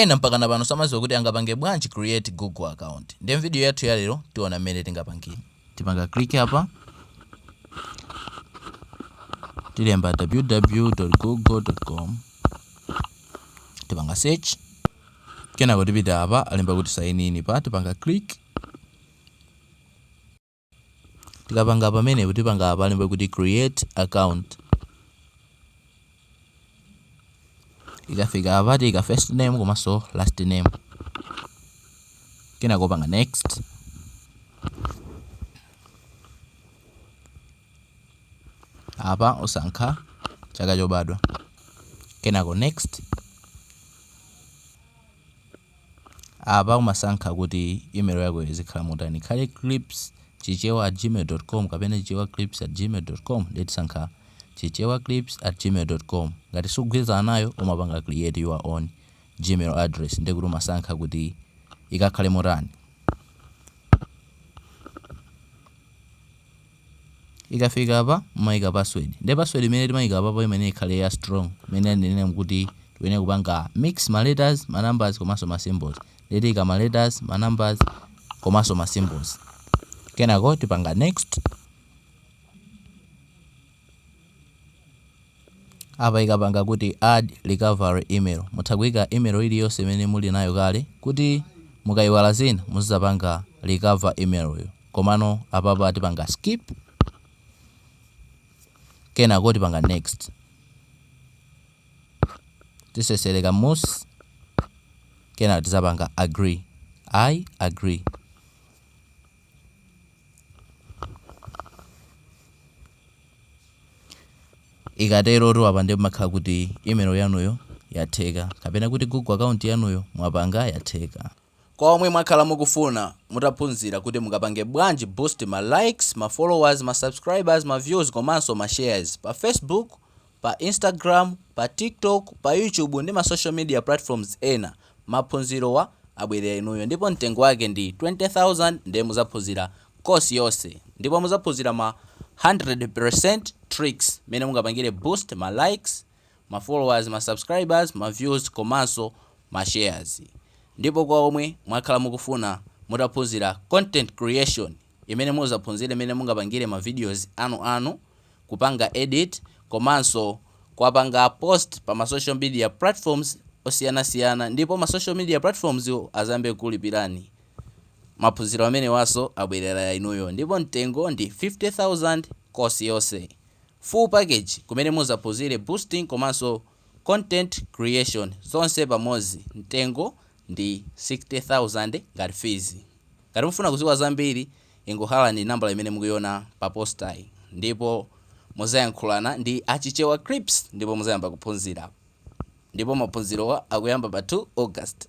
Ena mpakana pano samadziwa kuti angapange bwanji create Google account nde mvideo yathu ya lero tiona mmene tingapangile. Tipanga click apa tilemba www.google.com tipanga search kenako tipita apa alemba kuti sign in pa tipanga click. Tikapanga pamenepo tipanga apa alemba kuti create account. Ikafika apa tiika first name komanso last name. Kenako panga next. Apa usankha chaka chobadwa. Kenako next. Apa umasankha kuti email yako izikhala motani, ikhale clipschichewa@gmail.com kapena chichewaclips@gmail.com. Ndiye tisankha chichewaclips@gmail.com. Ngati sukugwirizana nayo umapanga create your own Gmail address ndiye kuti umasankha kuti ikakhale motani. Ikafika apa mumaika password. Nde password imene timaika apapo imayenera kukhala ya strong mmene anenera kuti tikuyenera kupanga mix ma letters, ma numbers komanso ma symbols. Nde tiika ma letters, ma numbers komanso ma symbols. Kenako tipanga next. Apa ikapanga kuti add recovery email. Mutha kuika email iliyonse imene muli nayo kale kuti mukaiwala zina muzapanga recover email yo. Komano apapa tipanga skip kenako tipanga next tiseseleka mmusi kenako tizapanga agree i agree ikatero apa nde imakhala kuti email yanuyo yatheka kapena kuti google account yanuyo mwapanga yatheka Kwa omwe mwakhala mukufuna mutaphunzira kuti mungapange bwanji boost ma likes, ma followers, ma subscribers, ma views komanso ma shares pa Facebook, pa Instagram, pa TikTok, pa YouTube ndi ma social media platforms ena, maphunzirowa abwerera inuyo ndipo mtengo wake ndi 20,000 nde muzaphunzira course yonse ndipo muzaphunzira ma 100% tricks mene mungapangire boost ma likes, ma followers, ma subscribers, ma views komanso ma shares. Ndipo kwa omwe mwakhala mukufuna mutaphunzira content creation imene muzaphunzire mene mungapangire ma videos anu anu, kupanga edit komanso kuwapanga post pa ma social media platforms osiyana siyana ndipo ma social media platforms wo azayambe kukulipirani, maphunziro amenewanso abwerera inuyo ndipo mtengo ndi 50,000 course yonse. full package kumene muzaphunzire boosting komanso content creation zonse pamodzi mtengo ndi 60,000 ngati fees. Ngati mufuna kuziwa zambiri ingohallani nambala imene mukuiona pa poster yi ndipo muzayankhulana ndi a Chichewa Clips ndipo muzayamba kuphunzira ndipo maphunzirowa akuyamba pa 2 August.